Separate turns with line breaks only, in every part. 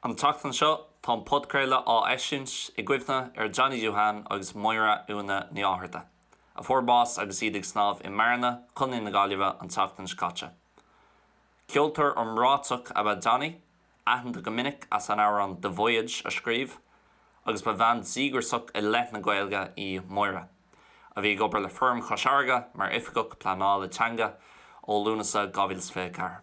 An tseachtain seo tá an podchraoladh á eisiúint i gcuimhne ar Johnny Duhan agus Máire Úna Ní Fhátharta, a fuair bás agus iad ag snámh i mBearna, Co. na Gaillimhe an tseachtain seo caite. Ceoltóir iomráiteach ab ea Johnny, aitheanta go minic as an amhrán The Voyage a scríobh, agus ba bhean díograiseach i leith na Gaeilge í Máire, a bhí ag obair le Fóram Chois Fharraige mar Oifigeach Pleanála Teanga ó Lúnasa 2024.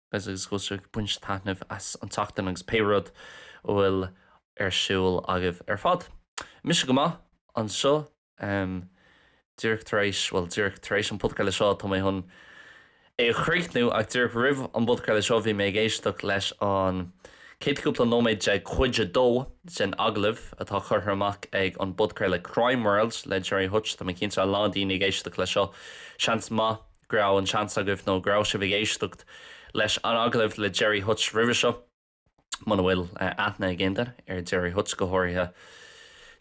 Agus is go bhfuil sibh ag baint taitneamh as an tseachtain agus pé rud a bhfuil ar siúl agaibh ar fad. Mise go maith anseo. Díreach tar éis, bhuel, díreach tar éis an podchraoladh seo tá mé chun é a chríochnú ach díreach roimh an bpodchraoladh seo bhí mé ag éisteacht leis an chéad chúpla nóiméad de chuid a dó den agallamh atá curtha amach ag an bpodchraoladh Crime World le Gerry Hutch. Tá mé cinnte a lán daoine ag éisteacht leis seo. Seans maith. go raibh an seans agaibh nó go raibh sibh ag éisteacht leis an agallamh le Gerry Hutch roimhe seo. Muna bhfuil aithne ag aon duine ar Gerry Hutch, go háirithe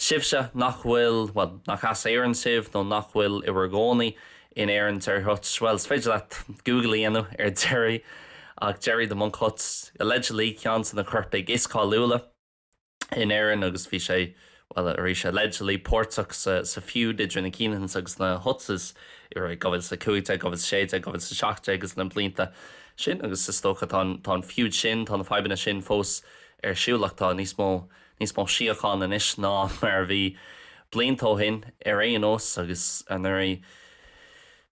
sibhse nach bhfuil, bhuel, nach as Éirinn sibh nó nach bhfuil i bhur gcónaí in Éirinn, Gerry Hutch, bhuel, is féidir leat Google a dhéanamh ar Gerry, ach Gerry 'The Monk' Hutch, allegedly, ceann de na coirpigh is cáiliúla. in Éirinn agus bhí sé, bhuel, arís allegedly, páirteach sa feud idir na Kinahans agus na Hutches i rith 2015, 2016, 2017 agus na blianta sin agus is dócha tá an tá an feud sin, tá na fadhbanna sin fós ar siúl ach tá níos mó níos mó síochána anois ná mar a bhí blianta ó shin ar aon nós agus anuraidh,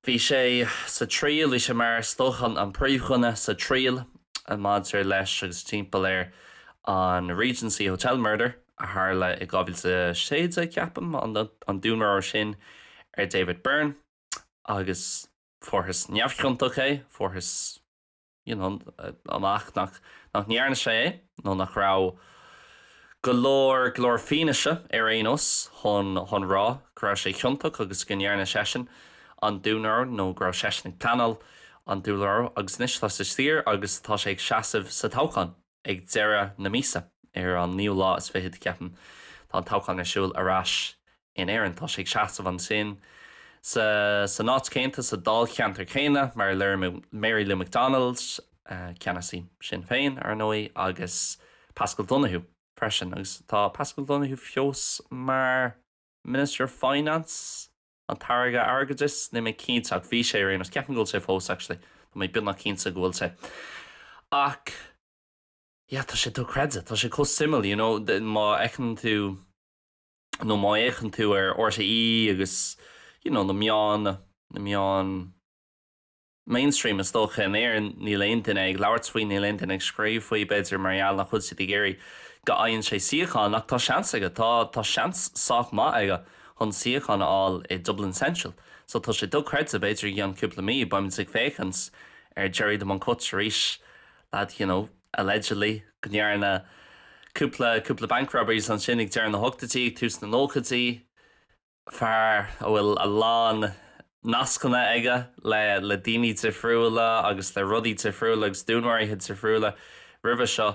Bhí sé sa triail, bhí sé mar is dócha an príomhdhuine sa triail maidir leis agus timpeall air an Regency Hotel Murder a tharla i 2016 ceapaim, an dúnmharú sin ar David Byrne agus fuarthas neamhchiontach é, fuarthas. amach nach ndearna sé é nó nach raibh go leor, go leor fianaise ar aon nós chun, chun rá go raibh sé ciontach agus go ndearna seisean an dúnmharú nó go raibh seisean ag pleanáil an dúnmharú agus anois tá sé sa tír agus tá sé ag seasamh sa toghchán. ag deireadh na míosa, ar an naoú lá is fichead, ceapaim, tá an toghchán ar siúl ar ais in Éirinn. Tá sé ag seasamh ansin, sa, san áit chéannta, sa dáilcheantar céanna, mar le Mary Lou McDonald, ceannasaí Shinn Féin, ar ndóigh, agus Paschal Donohoe, freisin. Agus tá Paschal Donohoe fós mar Minister of Finance? An tAire Airgeadais, níl mé cinnte ach bhí sé ar aon nós. Ceapaim go bhfuil sé fós actually. Tá mé beagnach cinnte go bhfuil sé. Ach yeah, tá sé dochreidte, tá sé chomh suimiúil, you know, má fheiceann tú nó má fhéachann tú ar RTÉ agus you know na meáin, na meáin, mainstream is dócha. In Éirinn níl aon duine ag labhairt faoi, níl aon duine ag scríobh faoi, b'fhéidir mar gheall nach bhfuil siad ag iarraidh go fhaigheann sé suíochán ach tá seans aige, tá, tá seans sách maith aige chun suíochán a fháil i Dublin Central. So tá sé dochreidte, b'fhéidir i gceann cúpla mí beimid ag féachaint ar Gerry the Monk Hutch arís, lad you know, allegedly, go ndearna cúpla, cúpla bank robberies ansin ag deireadh na hochtaidí, tús na nóchaidí. fear a bhfuil a lán nascanna aige le daoine difriúla agus le rudaí difriúla agus dúnmharuithe difriúla roimhe seo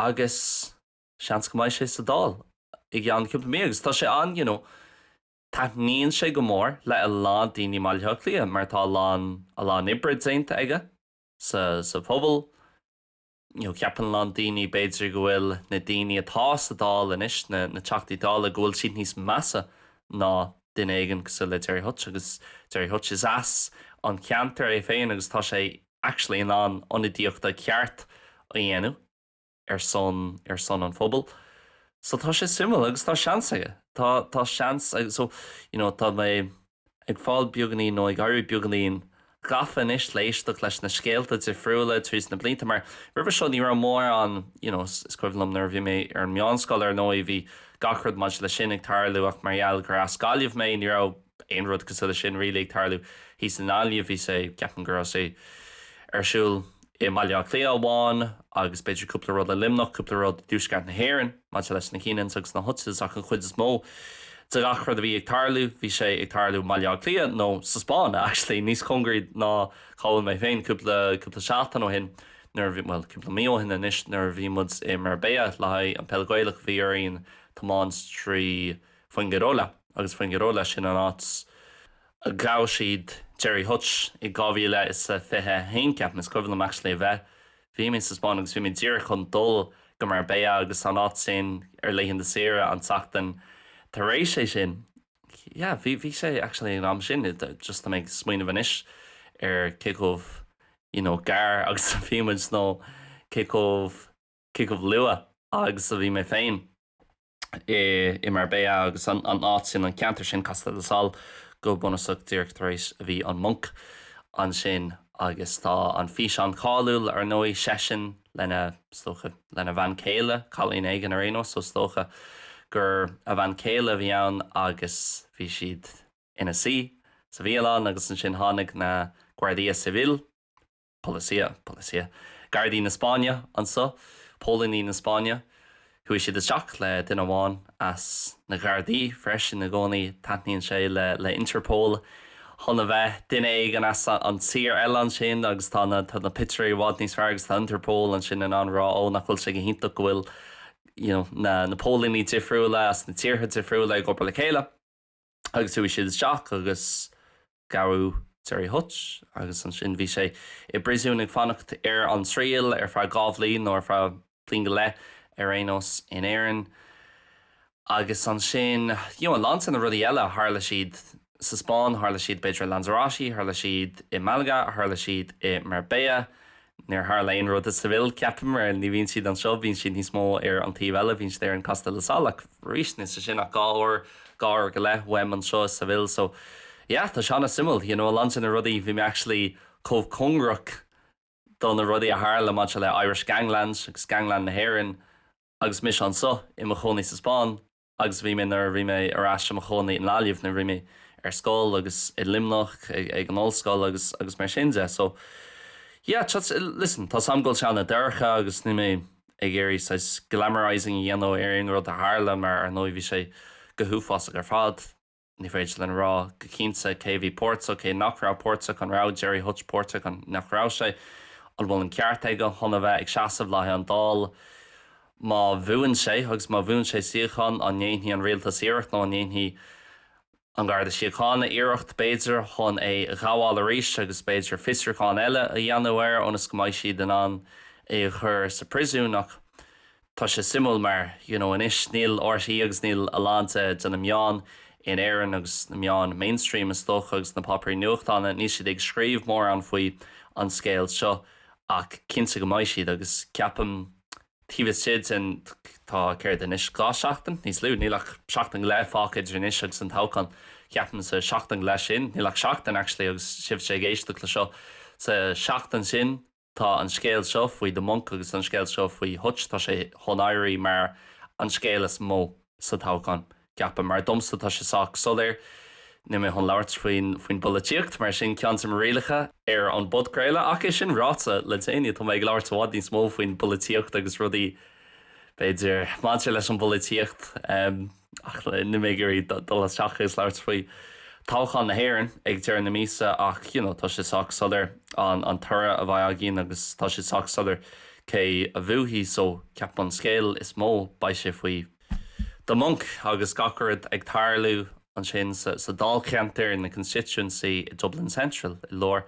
agus seans go mbeidh sé sa Dáil i gceann cúpla mí agus tá sé an you know taitníonn sé go mór le a lán daoine i mBaile Átha Cliath mar tá a lán a lán oibre déanta aige sa sa phobal Ceapann a lán daoine b'fhéidir go bhfuil na daoine atá sa Dáil anois, na Teachtaí Dála, go bhfuil siad níos measa ná duine éigin cosúil le Gerry Hutch agus Gerry Hutch is as an gceantar é féin agus tá sé actually in ann ionadaíochta ceart a dhéanamh ar son ar son an phobail so tá sé suimiúil agus tá seans aige tá tá seans so you know tá mé Ag fáil beagainín nó ag éirí beagáinín gafa anois le éisteacht leis na scéalta difriúla tríd na blianta mar roimhe seo ní raibh mórán, you know, is cuimhin liom nuair a bhí mé ar an meánscoil ar ndóigh bhí gach rud maidir le sin ag tarlú ach mar gheall gur as Gaillimh mé ní raibh aon rud cosúil le sin really ag tarlú thíos i nGaillimh, bhí sé, cheap mé go raibh sé ar siúl i mBaile Átha Cliath amháin agus b'fhéidir cúpla rud i Luimneach, cúpla rud i dTuaisceart na hÉireann maidir leis na Kinahans agus na Hutches ach an chuid is mó de gach rud a bhí ag tarlú, bhí sé ag tarlú i mBaile Átha Cliath nó sa Spáinn actually, níos cóngaraí ná cá bhfuil mé féin, cúpla, cúpla seachtain ó shin nuair a bhí, bhuel, cúpla mí ó shin anois nuair a bhí muid i Marbella le haghaidh an Peil Ghaelach bhí orainn tiomáint trí Fuengirola agus Fuengirola sin an áit Ghabh siad Gerry Hutch i 2021, ceapaim, is cuimhin liom actually a bheith, bhí mé sa Spáinn agus bhí mé díreach chun dul go Marbella agus an áit sin ar laethanta saoire an tseachtain tar éis é sin. Yeah, bhí, bhí sé actually an am sin, just tá mé ag smaoineamh anois ar cé chomh you know gar agus a bhí muid nó cé chomh, cé chomh luath agus a bhí mé féin. i Marbella agus an áit sin, an ceantar sin, Costa del Sol, go bunúsach díreach tar éis a bhí an Monk ansin agus tá an físeán cáiliúil, ar ndóigh, seisean lena, is dócha, lena bhean céile, cailín éigin ar aon nós, so is dócha gur a bhean céile a bhí ann agus bhí siad ina suí sa bhialann agus ansin tháinig na Guardia Civil, Policia, policia. Gardaí na Spáinne anseo, póilíní na Spáinne. Chuaigh siad isteach le duine amháin as na Gardaí freisin i gcónaí, taitníonn sé le le Interpol chun a bheith, duine éigin as an tír eile ansin agus tá na tá na pictiúirí i bhfad níos fearr agus tá Interpol ansin in ann a rá ó nach bhfuil sé go hiontach go bhfuil, you know, na na póilíní difriúla as na tíortha difriúla ag obair le chéile. agus chuaigh siad isteach agus gabhadh Gerry Hutch agus ansin bhí sé i bpríosún ag fanacht ar an triail ar feadh dhá bhliain nó ar feadh bliain go leith ar aon nós in Éirinn agus ansin you know a lán de na rudaí eile tharla siad sa Spáinn tharla siad b'fhéidir i Lanzarote tharla siad i Malaga tharla siad i Marbella Níor tharla aon rud sa Sevilla, ceapaim, mar ní bhíonn siad anseo, bíonn siad níos mó ar an taobh eile, bíonn siad ar an Costa del Sol ach arís níl sé sin ach dhá uair, dhá uair go leith uaim anseo sa Sevilla so yeah tá sé an-suimiúil you know a lán de na rudaí bhí mé actually chomh cóngarach do na rudaí a tharla maidir le Irish Gangland agus Gangland na hÉireann agus mise anseo i mo chónaí sa Spáinn agus a bhí mé nuair a bhí mé ar ais i mo chónaí i nGaillimh nuair a bhí mé ar scoil agus i Luimneach ag an ollscoil agus agus mar sin de so yeah just listen tá an scéal an-dorcha agus níl mé ag iarraidh saghas glamorizing a dhéanamh ar aon rud a tharla mar ar ndóigh bhí sé go huafásach ar fad Ní féidir linn a rá go cinnte cé a bhí páirteach, cé nach raibh páirteach. An raibh Gerry Hutch páirteach nó nach raibh sé? An bhfuil an ceart aige chun a bheith ag seasamh le haghaidh an Dáil má bhuann sé agus má bhuann sé suíochán? An ndéanfaidh an rialtas iarracht nó an ndéanfaidh An Garda Síochána iarracht, b'fhéidir, chun é a ghabháil arís agus b'fhéidir fiosrúchán eile a dhéanamh air ionas go mbeidh siad in ann é a chur sa phriosún? Ach Tá sé suimiúil mar you know anois níl RTÉ agus níl a lán de de na meáin in Éirinn agus na meáin mainstream is dócha agus na páipéirí nuachtáin níl siad ag scríobh mórán faoi an scéal seo ach cinnte go mbeidh siad agus ceapaim taobh istigh den tá céard anois dhá sheachtain níos lú níl ach seachtain go leith fágtha idir anois agus an toghchán ceapaim sa seachtain go leith sin níl ach seachtain actually agus sibhse ag éisteacht le seo sa seachtain sin Tá an scéal seo faoi The Monk agus an scéal seo faoi Hutch, tá sé chun éirí mar an scéal is mó sa toghchán, ceapaim. Mar domsa, tá sé sách soiléir. Níl mé chun labhairt faoin bpolaitíocht, mar sin ceann de mo rialacha ar an bpodchraoladh. Ach é sin ráite, le déanaí tá mé ag labhairt i bhfad níos mó faoin bpolaitíocht agus rudaí, b'fhéidir, maidir leis an bpolaitíocht. Ach níl mé ag iarraidh dul isteach agus labhairt faoi toghchán na hÉireann ag deireadh na míosa ach you know tá sé sách soiléir an an toradh a bheidh againn agus tá sé sách soiléir cé a bhuafaidh so ceapaim an scéal is mó beidh sé faoi The Monk agus gach rud ag tarlú ansin sa sa Dáilcheantar, nó constituency i Dublin Central i lár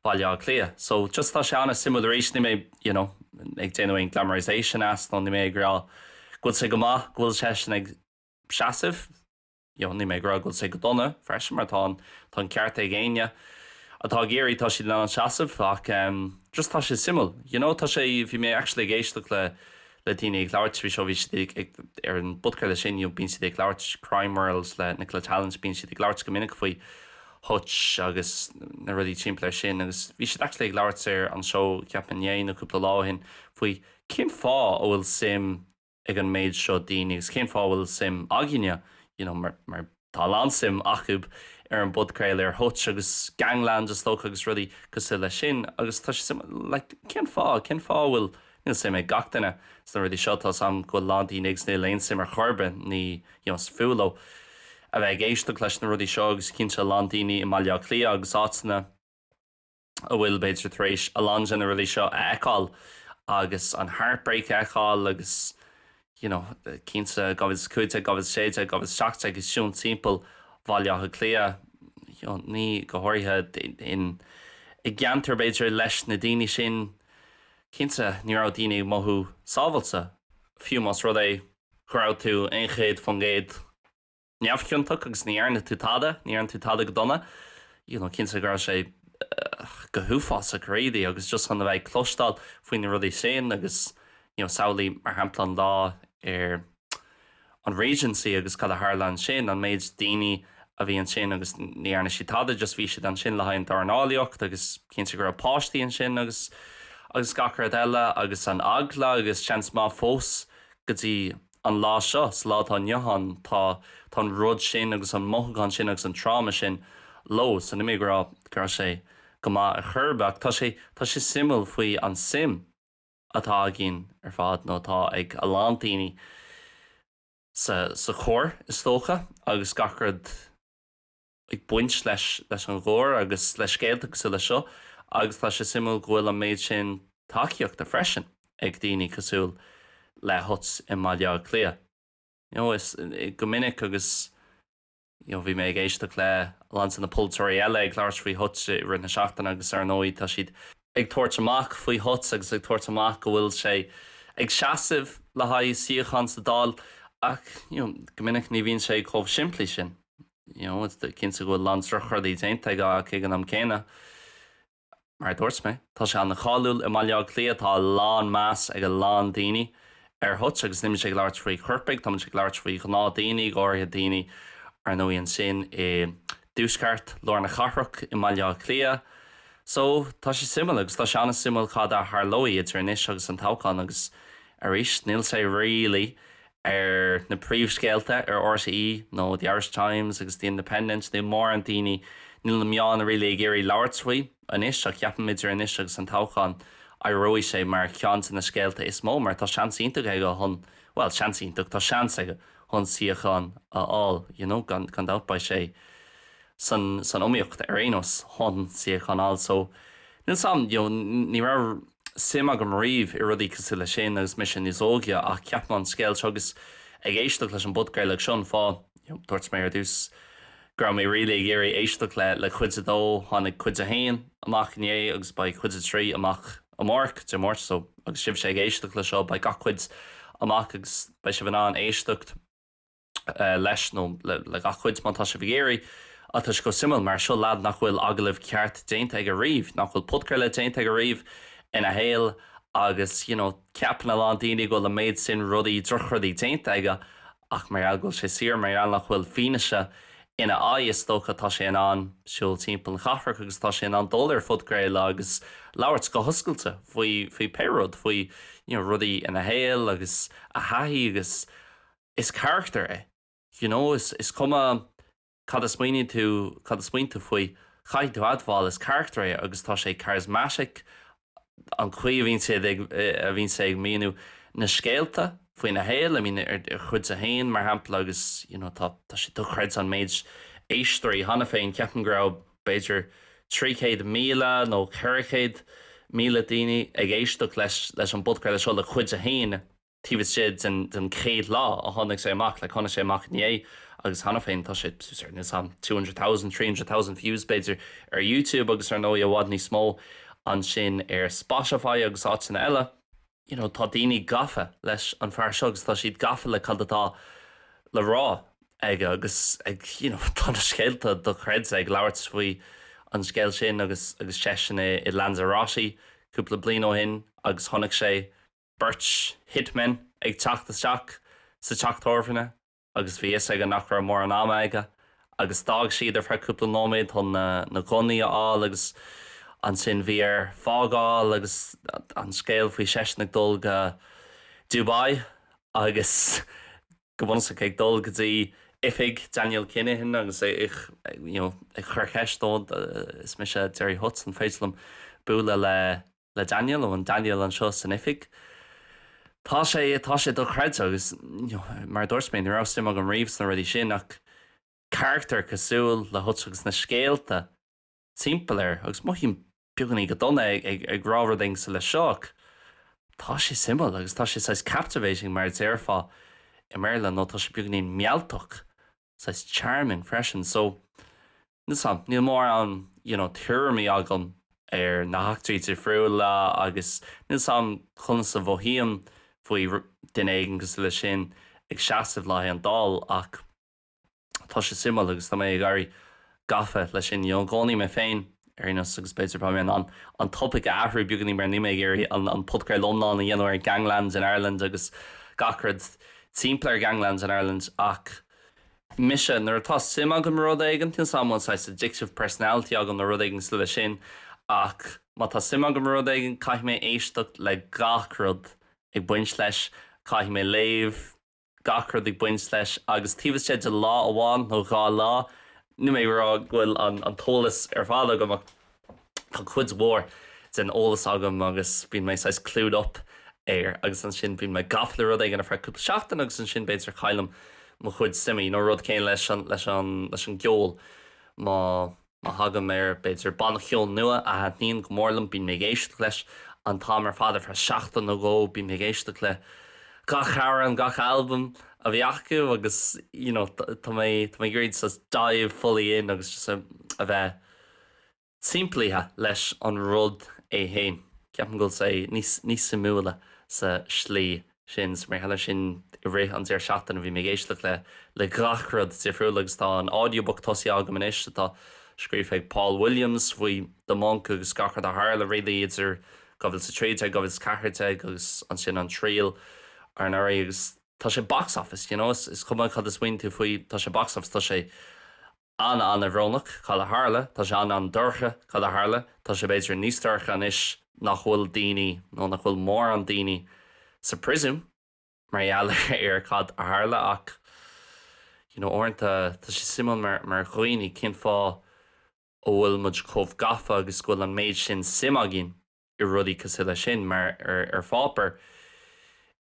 Bhaile Átha Cliath. So just tá sé an-suimiúil arís, níl mé you know ag déanamh aon glamorization as nó níl mé ag rá go bhfuil sé go maith go bhfuil seisean ag seasamh, you know níl mé ag rá go bhfuil sé go dona freisin mar tá an tá an ceart ag éinne atá ag iarraidh, tá siad in ann seasamh ach em just tá sé suimiúil. You know tá sé bhí mé actually ag éisteacht le le daoine ag labhairt faoi seo, bhí siad ag, ag, ar an bpodchraoladh sin, you know, bíonn siad ag labhairt, Crime World le Nicola Tallant, bíonn siad ag labhairt go minic faoi Hutch agus na rudaí timpeall air sin agus bhí siad actually ag labhairt ar an seó ceapaim inné nó cúpla lá ó shin faoi cén fáth a bhfuil suim ag an méid seo daoine agus cén fáth a bhfuil suim againne, you know, mar, mar. Tá a lán suim acu ar an bpodchraoladh i Hutch agus Gangland is dócha agus rudaí cosúil leis sin agus tá sé suim, like, cén fáth, cén fáth a bhfuil, níl suim ag gach duine sna rudaí seo, tá 's am go bhfuil a lán daoine agus níl aon suim ar chor ar bith, ní, you know, 's fuath leo a bheith ag éisteacht leis na rudaí seo agus cinnte a lán daoine i mBaile Átha Cliath agus áiteanna a bhfuil, b'fhéidir, tar éis a lán de na rudaí seo a fheiceáil agus an heartbreak a fheiceáil agus you know cinnte 2015, 2016, 2017 ag siúl timpeall Bhaile Átha Cliath you know ní go háirithe in i gceantar b'fhéidir leis na daoine sin cinnte ní raibh daoine ag mothú sábháilte fiú más rud é go raibh tú aon céad faoin gcéad neamhchiontach agus ní dhearna tú tada, ní dhearna tú tada go dona, you know, cinnte go raibh sé go huafásach really agus just chun a bheith ag cloisteáil faoi na rudaí sin agus you know samhlaigh mar shampla an lá ar an Regency agus cad a tharla ansin, an méid daoine a bhí ansin agus ní dhearna siad tada, just bhí siad ansin le haghaidh an dornálaíocht agus cinnte go raibh páistí ansin agus, agus gach rud eile agus an eagla agus seans maith fós go dtí An lá seo, sa lá atá inniu ann, tá an rud sin agus an mothúchán sin agus an tráma sin leo. So níl mé ag rá go raibh sé go maith ar chor ar bith, ach tá sé suimiúil faoi an suim atá againn ar fad, nó atá ag a lán daoine, sa choir, is dócha, agus gach rud. ag baint leis leis an gcoir agus le scéalta cosúil le seo agus tá sé suimiúil go bhfuil an méid sin tacaíochta freisin ag daoine cosúil le Hutch i mBaile Átha Cliath. You know, is, go minic agus you know bhí mé ag éisteacht le a lán de na polaiteoirí eile ag labhairt faoi Hutch i rith na seachtaine agus ar ndóigh tá siad ag tabhairt amach faoi Hutch agus ag tabhairt amach go bhfuil sé ag seasamh le haghaidh suíochán sa Dáil ach you know go minic ní bhíonn sé chomh simplí sin. you know is cinnte go bhfuil a lán drochrudaí déanta aige ach ag an am céanna mar a dúirt mé tá sé ana cháiliúil i mBaile Átha Cliath tá a lán meas ag a lán daoine ar Hutch agus níl mise ag labhairt faoi choirpigh tá mise ag labhairt faoi ghnáth daoine go háirithe daoine ar ndóigh ansin i dtuaisceart lár na cathrach i mBaile Átha Cliath so tá sé suimiúil agus tá sé ana suimiúil cad a tharlóidh idir anois agus an toghchán agus arís níl sé really ar na príomhscéalta ar RTÉ nó The Irish Times agus The Independent nó mórán daoine níl na meáin really ag iarraidh labhairt faoi anois ach ceapaim idir anois agus an toghchán éireoidh sé mar cheann de na scéalta is mó mar tá seans iontach aige chun bhuel seans iontach tá seans aige chun suíochán a fháil you know gan gan dabht beidh sé san san iomaíocht ar aon nós chun suíochán a fháil so níl sam you know ní raibh suim agam riamh i rudaí cosúil le sin agus mise níos óige ach ceapaim an scéal seo agus ag éisteacht leis an bpodchraoladh seo an fáth, you know, dúirt mé ar dtús go raibh mé really ag iarraidh éisteacht le, le cuid a dó, tháinig cuid a haon amach inné agus beidh cuid a trí amach amárach, Dé Máirt, so agus sibhse ag éisteacht leis seo beidh gach cuid amach agus beidh sibh in ann éisteacht. leis nó le gach cuid má tá sibh ag iarraidh ach tá sé chomh suimiúil mar seo lead nach bhfuil agallamh ceart déanta aige riamh nach bhfuil podchraoladh déanta aige riamh ina shaol agus you know ceapann a lán daoine go bhfuil an méid sin rudaí drochrudaí déanta aige ach mar gheall go bhfuil sé saor mar gheall nach bhfuil fianaise ina aghaidh is dócha tá sé in ann siúl timpeall na cathrach agus tá sé in ann dul ar phodchraoladh agus labhairt go hoscailte faoi faoi pé rud faoi you know rudaí ina shaol agus a thaithí agus Is carachtar é. You know, is cuma cad a smaoiníonn tú, cad a smaoin tú faoi, caithfidh tú admháil, is carachtar é agus tá sé charismatic, an chaoi a bhíonn sé ag, a bhíonn sé ag míniú na scéalta faoina shaol, I mean, ar chuid a haon, mar shampla agus, you know, tá, tá sé dochreidte an méid éisteoirí cheana féin, ceapaim go raibh b'fhéidir trí chéad míle nó ceithre chéad míle duine ag éisteacht leis, leis an bpodchraoladh seo, le cuid a haon. taobh istigh den chéad lá a tháinig sé amach, like tháinig sé amach inné agus cheana féin tá sé, ceapaimse two hundred thousand, three hundred thousand views b'fhéidir ar YouTube agus ar ndóigh i bhfad níos mó ansin ar Spotify agus áiteanna eile. You know, tá daoine gafa leis an fear seo agus tá siad gafa le cad atá le rá aige agus ag, you know, tá na scéalta dochreidte ag labhairt faoi an scéal sin agus, agus seisean i Lanzarote cúpla bliain ó shin agus chonaic sé. beirt hitmen ag teacht isteach sa teach tábhairne agus bhí a fhios aige nach raibh mórán ama aige agus d'fhág siad ar feadh cúpla nóiméad chun na gunnaí a fháil agus ansin bhí air fágáil agus an scéal faoi seisean ag dul go Dubai agus go bunúsach ag dul go dtí oifig Daniel Kinahan agus é ag you know ag cur cheist dó, is mise Gerry Hutch, an féidir liom bualadh le le Daniel, ó, an Daniel anseo san oifig. Tá sé, tá sé dochreidte agus you know, mar a dúirt mé, ní raibh suim agam riamh sna rudaí sin ach carachtar cosúil le Hutch agus na scéalta timpeall air agus mothaím beagáinín go dona ag, ag rá rud éigin cosúil leis seo ach tá sé suimiúil agus tá sé saghas captivating mar a déarfá i mBéarla nó tá sé beagáinín mealltach saghas charming freisin so níl a fhios agam níl mórán you know tuairimí agam ar na heachtraí difriúla agus níl a fhios agam conas a mhothaím faoi duine éigin cosúil leis sin ag seasamh le haghaidh an Dáil ach tá sé suimiúil agus tá mé ag éirí gafa leis sin. D'aithneoinn mé féin ar aon nós agus b'fhéidir tá mé in ann an topaic a athrú beagáinín mar níl mé ag iarraidh an podchraoladh iomlán a dhéanamh ar Ganglands in Ireland agus gach rud timpeall ar Ganglands in Ireland ach mise, nuair atá suim agam i rud éigin, níl a fhios agam an bhfuil saghas addictive personality agam nó rud éigin cosúil leis sin ach má tá suim agam i rud éigin caithfidh mé éisteacht le gach rud ag baint leis, caithfidh mé léamh. gach rud ag baint leis agus taobh istigh de lá amháin nó dhá lá, níl mé ag rá go bhfuil an t-eolas ar fad agam ach tá cuid mhór den eolas agam agus bíonn mé saghas clued up air agus ansin bíonn mé gafa le rud éigin ar feadh cúpla seachtain agus ansin b'fhéidir caillim mo chuid suime, you know, rud céanna leis an, leis an, leis an gceol, má. Má thagaim ar, b'fhéidir, banna ceoil nua a thaitníonn go mór liom, bíonn mé ag éisteacht leis an t-am ar fad ar feadh seachtain nó dhó. Bíonn mé ag éisteacht le gach amhrán, gach albam a bhí acu agus you know tá mé tá mé ag iarraidh just dive fully in agus just a bheith timpeallaithe leis an rud é féin. Ceapaim go bhfuil sé níos níos suimiúla sa slí sin so mar gheall air sin i rith an deireadh seachtaine. Bhí mé ag éisteacht le le gach rud difriúil agus tá an audiobook tosaithe agam anois atá scríofa ag Paul Williams faoi The Monk agus gach rud a tharla really idir 2013, 2014 agus ansin an triail anuraidh agus tá sé box office, you know, is cuma cad a smaoiníonn tú faoi tá sé box office tá sé An-an-bhrónach, cad a tharla. Tá sé an-an-dorcha, cad a tharla. Tá sé b'fhéidir níos dorcha anois nach bhfuil daoine nó nach bhfuil mórán daoine sa príosún mar gheall ar cad a tharla ach you know uaireanta tá sé suimiúil mar mar dhaoine cén fáth a bhfuil muid chomh gafa agus go bhfuil an méid sin suim againn i rudaí cosúil leis sin mar ar pháipéar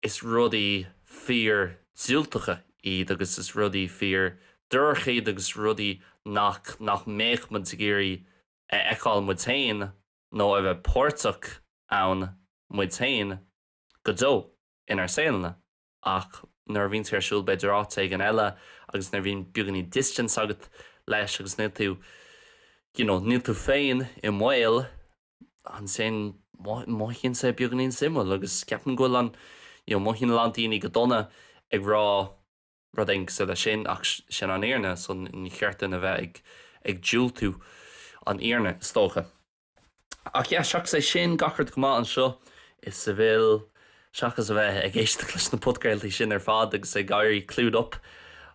is rudaí fíor diúltacha iad agus is rudaí fíor dorcha iad agus rudaí nach nach mbeadh muid ag iarraidh a fheiceáil muid féin nó a bheith páirteach ann muid féin go deo inár saoleanna ach nuair a bhíonn sé ar siúl b'fhéidir áit éigin eile agus nuair a bhíonn beagáinín distance agat leis agus níl tú you know níl tú féin i mbaol ansin mothaíonn sé beagáinín suimiúil agus ceapaim go bhfuil an, you know, mothaíonn a lán daoine go dona ag rá rud éigin cosúil leis sin ach sin an fhírinne so ní cheart dúinn a bheith ag, ag diúltú an fhírinne is dócha. Ach yeah, seachas é sin, gach rud go maith anseo i Seville. Seachas a bheith ag éisteacht leis na podchraoltaí sin ar fad agus ag éirí clued up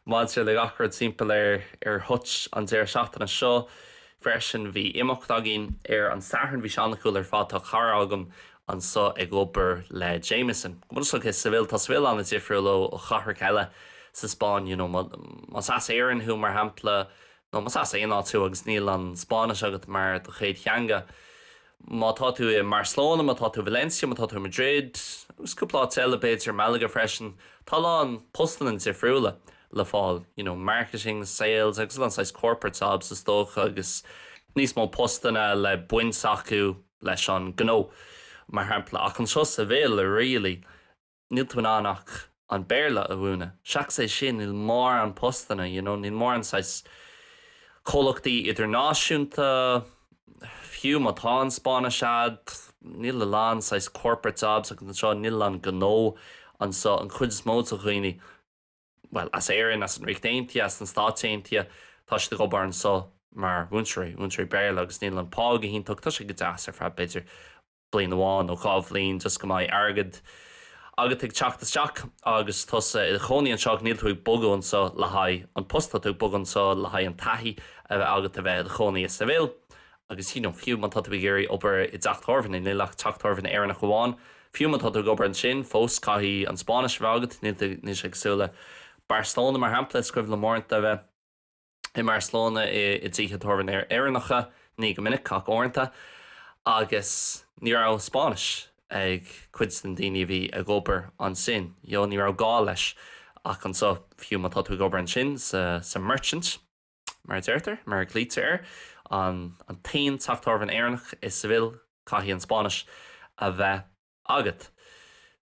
maidir le gach rud timpeall ar Hutch an deireadh seachtaine seo freisin bhí imeacht againn ar an Satharn, bhí sé an-cool ar fad, tá cara agam anseo ag obair le Jameson, go bhfuil sé i Seville, tá Seville an-difriúil ó chathracha eile sa Spáinn you know más as Éirinn thú mar shampla nó más as aon áit thú agus níl an Spáinnis agat mar do chéad theanga, Má tá tú i mBarcelona, má tá tú i Valencia, má tá tú i Madrid agus cúpla áit eile b'fhéidir, Malaga freisin, tá a lán postanna difriúla le fáil, you know, marketing, sales agus a lán saghas corporate jobs is dócha agus níos mó postanna le baint acu leis an gnó mar shampla ach anseo i Seville really, níl tú in ann ach an Béarla a mhúineadh. Seachas é sin, níl mórán postanna, you know, níl mórán saghas comhlachtaí idirnáisiúnta, fiú má tá an Spáinnis a'd, níl a lán saghas corporate jobs agat anseo, níl a lán gnó anseo. An chuid is mó de dhaoine, bhuel, as Éirinn, as an Ríocht Aontaithe, as na Stáit Aontaithe, tá siad ag obair anseo mar mhúinteoirí, mhúinteoirí Béarla agus níl an pá go hiontach, tá sé go deas ar feadh b'fhéidir, bliain amháin nó dhá bhliain just go mbeidh airgead agat ag teacht isteach agus tusa i do chónaí anseo ach níl tú ag bogadh anseo le haghaidh an post, tá tú ag bogadh anseo le haghaidh an taithí a bheith agat a bheith i do chónaí i Seville agus you know fiú má tá tú ag iarraidh obair i dteach tábhairne, níl ach teach tábhairne Éireannach amháin, fiú má tá tú ag obair ansin fós caithfidh an Spáinnis a bheith agat, níl sé cosúil le Barcelona mar shampla, is cuimhin liom uaireanta a bheith. i mBarcelona i dtithe tábhairne Éireannacha, ní go minic ach uaireanta, agus ní raibh Spáinnis ag cuid de na daoine a bhí ag obair ansin. You know, ní raibh gá leis ach anseo, fiú má tá tú ag obair ansin sa Merchant, mar a deirtear, mar a ghlaoitear air, an t-aon teach tábhairne Éireannach i Seville, caithfidh an Spáinnis a bheith. agat.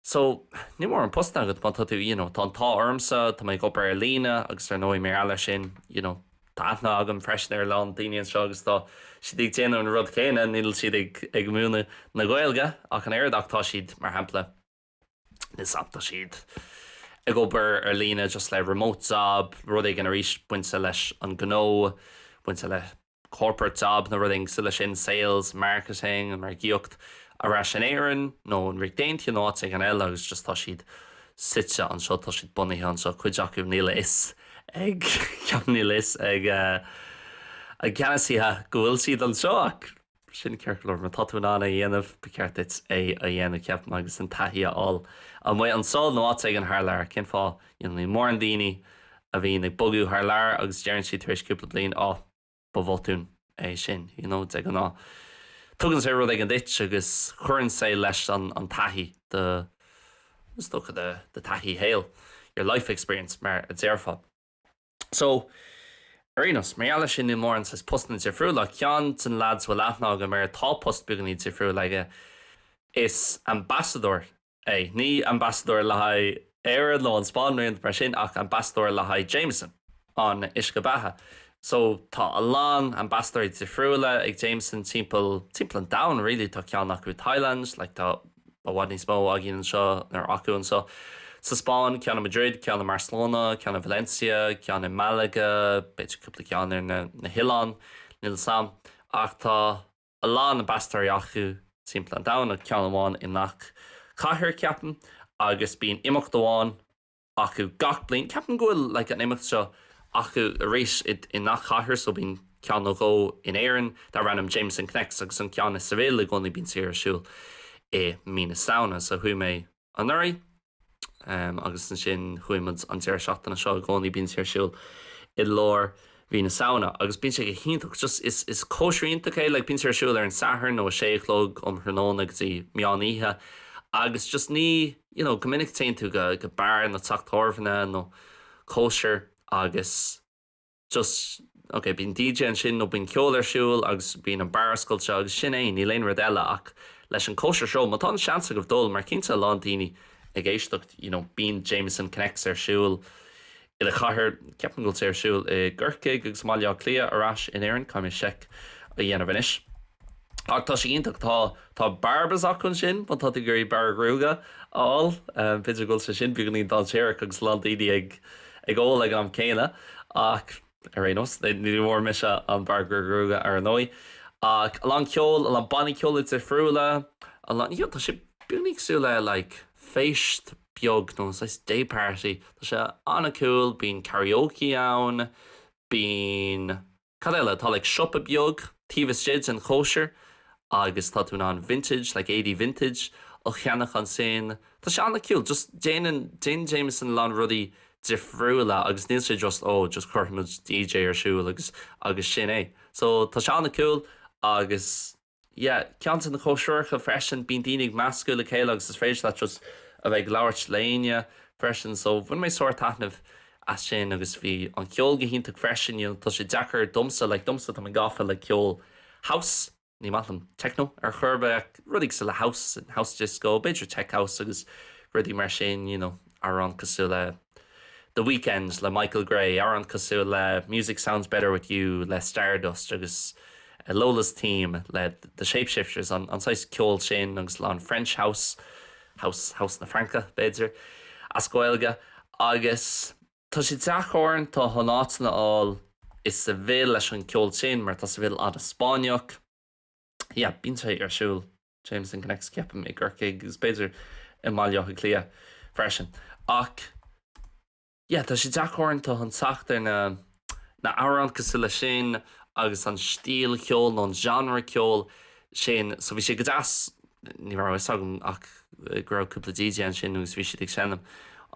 So, níl mórán postanna agat má tá tú, you know, tá an t-ádh ormsa, tá mé ag obair ar líne agus ar ndóigh, mar gheall air sin, you know, tá aithne agam freisin ar a lán daoine anseo agus tá siad ag déanamh an rud céanna, níl siad ag, ag múineadh na Gaeilge ach an oiread ach tá siad, mar shampla, you know, tá siad ag obair ar líne just le remote job, rud éigin arís bainte leis an gnó, bainte le. corporate job nó rud éigin leis sin, sales, marketing, an margaíocht, ar ais in Éirinn nó an Ríocht Aontaithe nó áit éigin eile agus just tá siad suite anseo, tá siad bunaithe anseo, cuid acu níl a fhios ag, ceapaim, níl a fhios ag a gceannasaithe go bhfuil siad anseo ach sin ceart go leor, má tá tú in ann é a dhéanamh, ba cheart duit é a dhéanamh, ceapaim, agus an taithí a fháil amuigh anseo nó áit éigin thar lear. Cén fáth? Níl mórán daoine a bhíonn ag bogadh thar lear agus deireann siad tar éis cúpla bliain 'Á, ba bhotún é sin'. You know, de ghnáth tugann sé rud éigin duit agus cuireann sé leis an taithí, do, do thaithí shaoil, your life experience mar a déarfá. So, ar aon nós, mar gheall air sin níl mórán saghas postanna difriúla. Ceann de na lads a bhfuil aithne agam air, tá post beagáinín difriúil aige, is ambasadóir é. Ní ambasadóir le haghaidh Éire nó an Spáinn nó aon rud mar sin ach ambasadóir le haghaidh Jameson, an uisce beatha. So, tá a lán ambasadóirí difriúla ag Jameson timpeall, timpeall an domhain really. Tá ceann acu Thailand, like tá i bhfad níos mó againn anseo, nó acu anseo sa Spáinn, ceann i Madrid, ceann i mBarcelona, ceann i Valencia, ceann i Malaga, b'fhéidir cúpla ceann ar na, na hoileáin, níl 'fhios a'm. Ach tá. a lán ambasadóirí acu timpeall an domhain, nó ceann amháin i ngach cathair, ceapaim, agus bíonn imeacht amháin acu gach bliain. Ceapaim go bhfuil like an imeacht seo acu arís i ngach cathair, so bíonn ceann nó dhó in Éirinn darb ainm Jameson Connects, agus an ceann i Seville i gcónaí, bíonn sé ar siúl i mí na Samhna, so chuaigh mé. anuraidh agus ansin chuaigh muid an deireadh seachtaine seo. I gcónaí bíonn sé ar siúl i lár mhí na Samhna agus bíonn sé go hiontach. Just, is, is cóisir iontach é. Like, bíonn sé ar siúl ar an Satharn ó a sé a chlog um thráthnóna go dtí meán oíche agus just ní, you know, go minic téann tú go, go beár nó teach tábhairne nó cóisir agus. just, ok, bíonn DJ ansin nó bíonn ceol ar siúl agus bíonn an beár oscailte agus sin é, níl aon rud eile ach leis an gcóisir seo, má tá an seans agaibh dul, mar cinnte a lán daoine ag éisteacht, you know, bíonn Jameson Connects ar siúl i do chathair, ceapaim go bhfuil sé ar siúl i gCorcaigh agus i mBaile Átha Cliath ar ais in Éirinn, caithfidh mé seic a dhéanamh anois. Ach tá sé iontach. Tá, tá barbas acu ansin, má tá tú ag iarraidh bearradh gruaige a fháil. B'fhéidir go bhfuil sé sin beagáinín dainséarach agus a lán daoine ag, ag ól ag an am céanna. Ach ar aon nós, ní bhfuair mise an bearradh gruaige ar ndóigh. Ach a lán ceoil, a lán bannaí ceoil difriúla. A lán, yeah, tá sé beagáinín cosúil le like feist beag nó saghas day party. Tá sé an-cool. Bíonn karaoke ann, bíonn. Cad eile? Tá like siopa beag taobh istigh den chóisir agus tá tú in ann vintage, like éadaí vintage, a cheannach ansin. Tá sé an-cool. Just déanann, déanann Jameson a lán rudaí difriúla agus níl sé just ó just cuirfimid DJ ar siúl agus agus sin é. So tá sé an-cool agus Yeah, ceann de na cóisireacha freisin, bíonn daoine ag meascadh le chéile agus is féidir leat just a bheith ag labhairt le héinne freisin so bhain mé sárthaitneamh as sin agus bhí an ceol go hiontach freisin, you know tá sé deacair domsa, like domsa tá mé gafa le ceol house, ní maith liom techno ar chor ar bith ach rudaí cosúil le house, house disco, b'fhéidir tech house agus rudaí mar sin, you know. amhrán cosúil le The Weekend le Michael Gray, amhrán cosúil le Music Sounds Better With You le Stardust agus Lola's Theme le The Shapeshifters, an saghas ceoil sin agus a lán French House, house, house na Fraince, b'fhéidir, as Gaeilge. Agus tá sé deacair uaireanta chun áiteanna a fháil i Seville leis an gceol sin mar tá Seville an-Spáinneach. Yeah, bíonn sé ar siúl. Jameson Connects ceapaim i gCorcaigh agus b'fhéidir i mBaile Átha Cliath freisin ach yeah tá sé deacair uaireanta chun teacht ar na na amhráin cosúil leis sin agus an stíl cheoil nó an genre ceoil sin so bhí sé go deas ní raibh fhios agam ach go raibh cúpla DJ ansin agus bhí siad ag seinm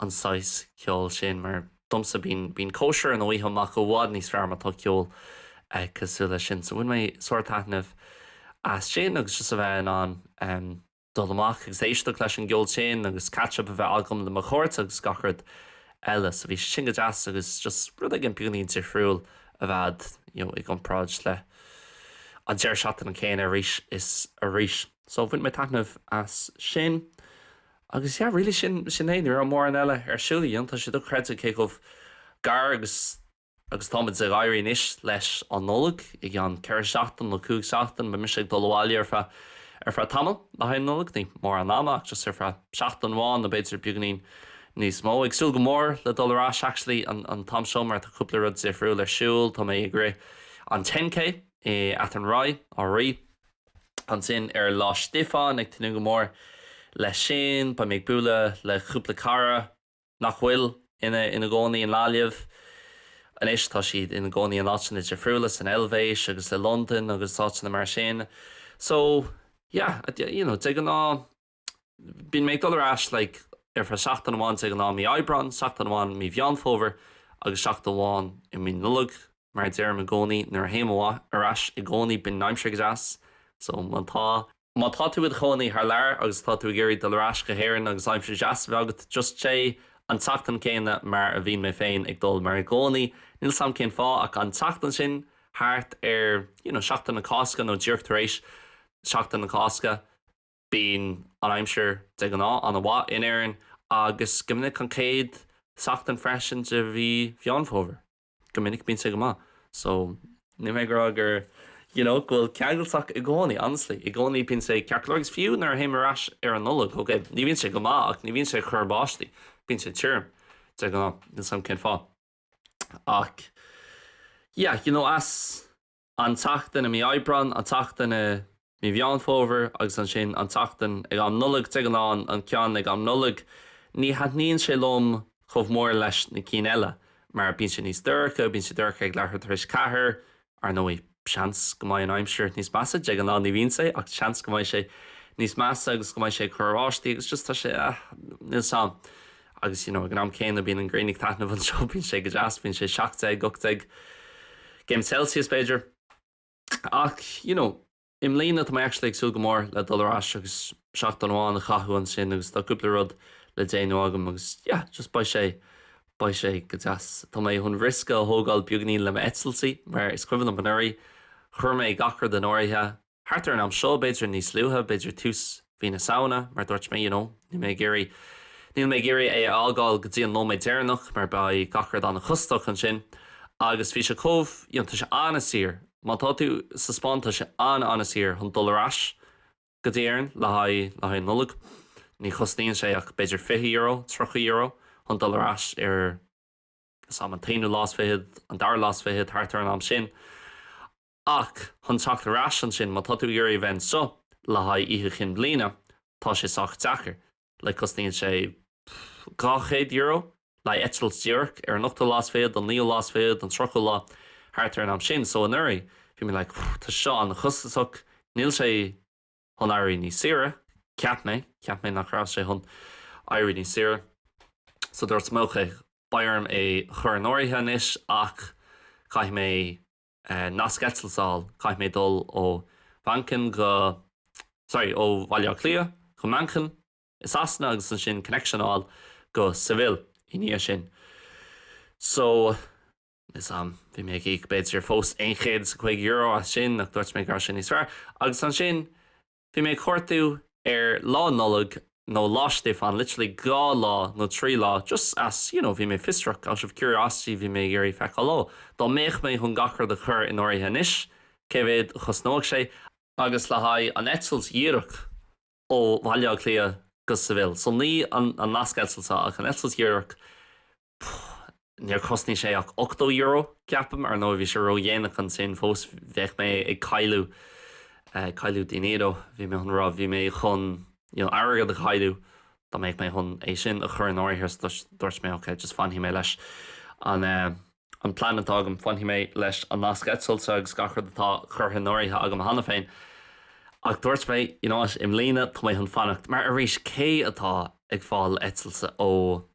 an saghas ceoil sin mar Domsa, bíonn cóisir nó oíche amach i bhfad níos fearr má tá ceol cosúil leis sin. So bhain mé sárthaitneamh as sin agus just a bheith in ann dul amach agus éisteacht leis an gceol sin agus catch up a bheith agam le mo chairde agus gach rud eile. So bhí sé sin go deas agus just rud éigin beagáinín difriúil a bheith you know i gcomparáid leis an deireadh seachtaine céanna arís is arís. So bhain mé taitneamh as sin. Agus yeah really sin sin é. Ní raibh mórán eile ar siúl, I mean, tá sé dochreidte cé chomh gar agus agus táimid ag éirí anois leis an Nollaig. I gceann ceithre seachtain nó cúig seachtain beidh mise ag dul abhaile ar feadh ar feadh tamaill le haghaidh an Nollaig, ní mórán ama ach just ar feadh seachtain amháin nó b'fhéidir beagáinín níos mó. Ag súil go mór le dul ar ais actually an an t-am seo mar tá cúpla rud difriúil ar siúl, tá mé ag rith an ten K i Athenry, Áth an Rí, Ansin ar Lá Stiofáin, ag tnúth go mór leis sin, beidh mé ag bualadh le cúpla cara nach bhfuil ina gcónaí i nGaillimh anois, tá siad ina gcónaí in áiteanna difriúla, san Eilvéis agus i Londain agus áiteanna mar sin. So, yeah, you know, de ghnáth. Bíonn mé ag dul ar ais like ar feadh seachtain amháin de ghnáth mí Aibreán, seachtain amháin mí Mheán Fómhair agus seachtain amháin i mí Nollaig. Mar a deirim i gcónaí nuair a théim ar ais i gcónaí bíonn an aimsir go deas so má tá, má tá tú id chónaí thar lear agus tá tú ag iarraidh dul ar ais go hÉireann agus aimsir deas a bheith agat just téigh an tseachtain céanna mar a bhíonn mé féin ag dul mar i gcónaí níl 's a'm cén fáth ach an tseachtain sin thart ar you know seachtain na Cásca nó díreach tar éis seachtain na Cásca. Bíonn an aimsir de ghnáth ana mhaith in Éirinn agus go minic an céad seachtain freisin de mhí Mheán Fómhair. Go minic bíonn sé go maith so níl mé ag rá gur you know go bhfuil ceangailteach i gcónaí honestly i gcónaí bíonn sé ceart go leor agus fiú nuair a théim ar ais ar an Nollaig ok ní bhíonn sé go maith ach ní bhíonn sé ag cur báistí bíonn sé tirim de ghnáth níl 's agam cén fáth ach yeah you know as An tseachtain i mí Aibreáin, an tseachtain i mí Mheán Fómhair agus ansin an tseachtain ag am Nollag, de ghnáth an ceann ag am Nollag. Ní thaitníonn sé liom chomh mór leis na cinn eile mar bíonn sé níos dorcha, bíonn sé dorcha ag leathuair tar éis ceathair, ar ndóigh seans go mbeidh an aimsir níos measa, de ghnáth ní bhíonn sé ach seans go mbeidh sé níos measa agus go mbeidh sé ag cur báistí agus just tá sé, ah níl 's 'am. Agus you know ag an am céanna bíonn an ghrian ag taitneamh anseo, bíonn sé go deas, bíonn sé seacht déag, ocht déag gcéim Celsius b'fhéidir. Ach you know i mbliana tá mé actually ag súil go mór le dul ar ais agus seachtain amháin a chaitheamh ansin agus tá cúpla rud le déanamh agam agus yeah just beidh sé, beidh sé go deas. Tá mé chun riosca a thógáil beagainín le m'eitiltí mar is cuimhin liom anuraidh chuir mé gach rud in áirithe, Thart ar an am seo, b'fhéidir níos luaithe, b'fhéidir tús mhí na Samhna, mar dúirt mé, you know, níl mé ag iarraidh, níl mé ag iarraidh é a fhágáil go dtí an nóiméad deireanach mar beidh gach rud an-chostasach ansin agus bhí sé chomh, you know, tá sé an-saor, má tá tú sa Spáinn tá sé an-an-saor chun dul ar ais go dtí Éirinn le haghaidh, le haghaidh an Nollag, ní chosnaíonn sé ach b'fhéidir fiche euro, tríocha euro chun dul ar ais ar, níl 's 'am, an t-aonú lá is fichead, an dara lá is fichead, thart ar an am sin. Ach chun teacht ar ais ansin, má tá tú ag iarraidh a bheith anseo le haghaidh Oíche Chinn Bliana, tá sé sách deacair. Like, cosnaíonn sé dhá chéad euro le haghaidh eitilt díreach ar an ochtú lá is fichead, an naoú lá is fichead, an tríochú lá, thart ar an am sin. So anuraidh, bhí mé like, pfff, tá sé seo an-chostasach, níl sé chun éirí níos saoire, cheap mé, cheap mé nach raibh sé chun éirí níos saoire. So dúirt mé, is dócha beidh orm é a chur in áirithe anois ach caithfidh mé. nasc eitilt a fháil, caithfidh mé dul ó Mhanchain go, sorry, ó Bhaile Átha Cliath go Manchain i Sasana agus ansin connection a fháil go Seville i ndiaidh sin. So, is am, bhí mé ag íoc b'fhéidir fós aon chéad is a cúig euro as sin ach dúirt mé go raibh sin níos fearr. Agus ansin. Bhí mé ag cuardú ar Lá Nollag nó Lá Stiofáin, literally dhá lá nó trí lá, just as, you know, bhí mé fiosrach, out of curiosity bhí mé ag iarraidh feiceáil, oh, dá mbeadh mé chun gach rud a chur in áirithe anois, cé mhéad a chosnódh sé, agus le haghaidh an eitilt dhíreach ó Bhaile Átha Cliath go Seville, so ní an nasc eitilte ach an eitilt dhíreach, Níor chosnaigh sé ach ochtó euro, ceapaim. Ar ndóigh, bhí sé ró-dhéanach ansin fós. Bheadh mé ag cailleadh, eh, cailleadh dinero, bhí mé chun rá, bhí mé chun, you know, airgead a chailleadh dá mbeadh mé chun é sin a chur in áirithe. So dúirt mé, okay, just fanfaidh mé leis an, eh, an plean atá agam, fanfaidh mé leis an nasc eitilte agus gach rud atá curtha in áirithe agam cheana féin. Ach dúirt mé, you know what, i mbliana, tá mé chun fanacht. Mar arís, cé atá ag fáil eitilte ó.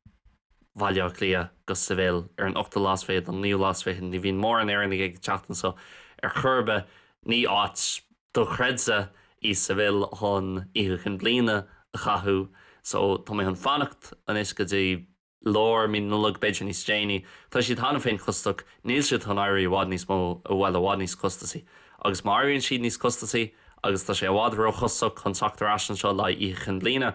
Bhaile Átha Cliath go Seville ar an ochtú lá is fiche nó an naoú lá is fiche. Ní bhíonn mórán Éireannaigh ag teacht anseo ar chor ar bith. Ní áit dochreidte í Seville chun Oíche Chinn Bliana a chaitheamh so tá mé chun fanacht anois go dtí lár mí Nollag, b'fhéidir níos déanaí. Tá siad cheana féin costach, níl siad chun éirí i bhfad níos mó, bhuel, i bhfad níos costasaí. Agus má éiríonn siad níos costasaí agus tá sé i bhfad róchostach chun teacht ar ais anseo le haghaidh Oíche Chinn Bliana,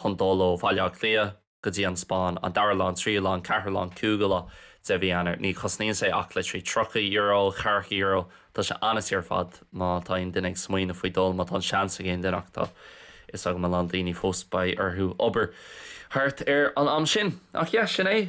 chun dul ó Bhaile Átha Cliath go dtí an Spáinn, an dara lá, an tríú lá, an ceathrú lá, an cúigiú lá de mhí Eanáir. Ní chosnaíonn sé ach like trí, tríocha euro, ceathracha euro. Tá sé an-saor ar fad má tá aon duine ag smaoineamh faoi dhul, má tá an seans ag aon duine ach tá 'fhios agam a lán daoine fós beidh orthu obair thart ar an am sin. Ach yeah, sin é.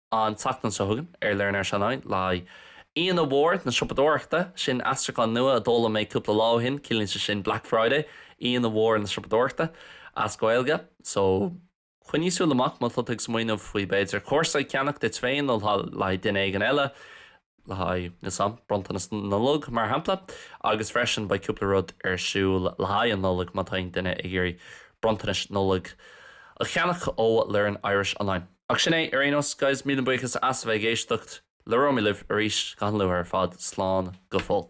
An tseachtain seo chugainn ar Learn Irish Online le haghaidh Aoine Mhór na Siopadóireachta, sin aistriúchán nua a d'fhoghlaim mé cúpla lá ó shin, ciallaíonn sé sin Black Friday, Aoine Mhór na Siopadóireachta as Gaeilge. So, coinnigh súil amach má tá tú ag smaoineamh faoi b'fhéidir cúrsa a cheannach duit féin nó le haghaidh duine éigin eile, le haghaidh na sam, bronntanas na Nollag mar shampla, agus freisin beidh cúpla rud ar siúl le haghaidh an Nollaig má tá aon duine ag iarraidh bronntanais Nollag a cheannach ó Learn Irish Online. Ach sin é ar aon nós, guys, míle buíochas as a bheith ag éisteacht. Labhróimid libh arís go han-luath ar fad, slán go fóill.